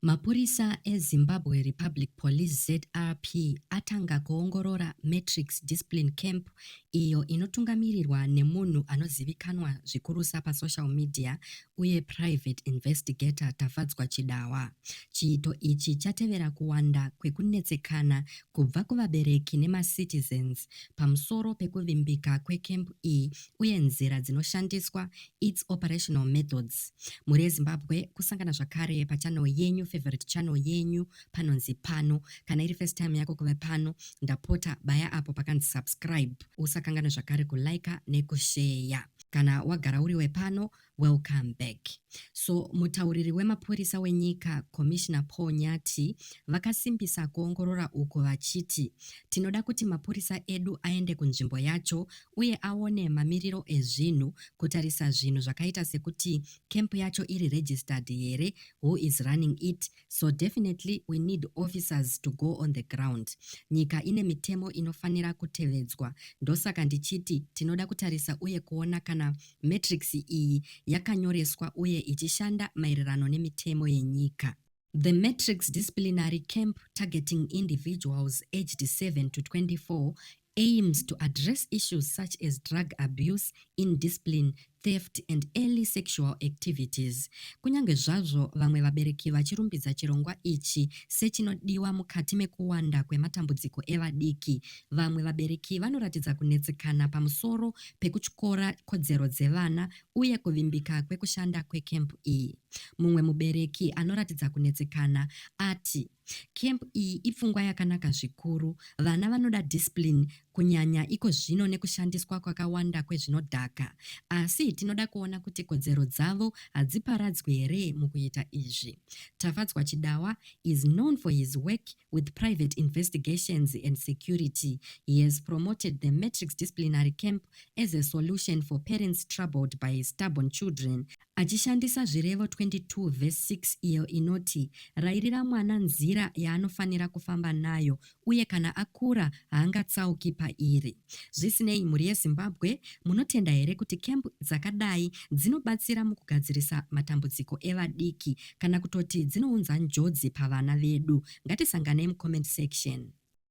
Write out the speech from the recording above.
Mapurisa eZimbabwe Republic Police, zrp, atanga kuongorora Matrix Discipline Camp iyo inotungamirirwa nemunhu anozivikanwa zvikurusa pasocial media uye Private Investigator Tafadzwa Chidawa. Chiito ichi chatevera kuwanda kwekunetsekana kubva kuvabereki nemacitizens pamusoro pekuvimbika kwecamp iyi uye nzira dzinoshandiswa its operational methods mhuri yezimbabwe kusangana zvakare pachannel yenyu favorite channel yenyu panonzi pano kana iri first time yako kuve pano ndapota baya apo pakanzi subscribe usakangana zvakare kulaika nekusheya kana wagara uri wepano welcome back so mutauriri wemapurisa wenyika commissioner paul nyati vakasimbisa kuongorora uku vachiti tinoda kuti mapurisa edu aende kunzvimbo yacho uye aone mamiriro ezvinhu, kutarisa zvinhu zvakaita sekuti camp yacho iri registered here, who is running it, so definitely we need officers to go on the ground. Nyika ine mitemo inofanira kutevedzwa, ndosaka ndichiti tinoda kutarisa uye kuona kana matrix iyi yakanyoreswa uye ichishanda maererano nemitemo yenyika. The Matrix Disciplinary Camp Targeting Individuals Aged 7 to 24 aims to address issues such as drug abuse, indiscipline, theft and early sexual activities. Kunyange zvazvo vamwe vabereki vachirumbidza chirongwa ichi sechinodiwa mukati mekuwanda kwematambudziko evadiki, vamwe vabereki vanoratidza kunetsekana pamusoro pekutyora kodzero dzevana uye kuvimbika kwekushanda kwekempu iyi. Mumwe mubereki anoratidza kunetsekana ati, Kempu iyi ipfungwa yakanaka zvikuru. Vana vanoda discipline, kunyanya iko zvino nekushandiswa kwakawanda kwezvinodhaka. Asi tinoda kuona kuti kodzero dzavo hadziparadzwi here mukuita izvi. Tafadzwa Chidawa is known for his work with Private Investigations and Security. He has promoted the Matrix Disciplinary Camp as a solution for parents troubled by stubborn children achishandisa Zvirevo 22 vhesi 6 iyo inoti, Rairira mwana nzira yaanofanira kufamba nayo, uye kana akura haangatsauki pairi. Zvisinei, mhuri yeZimbabwe, munotenda here kuti kembu dzakadai dzinobatsira mukugadzirisa matambudziko evadiki kana kutoti dzinounza njodzi pavana vedu? Ngatisanganei mucomment section.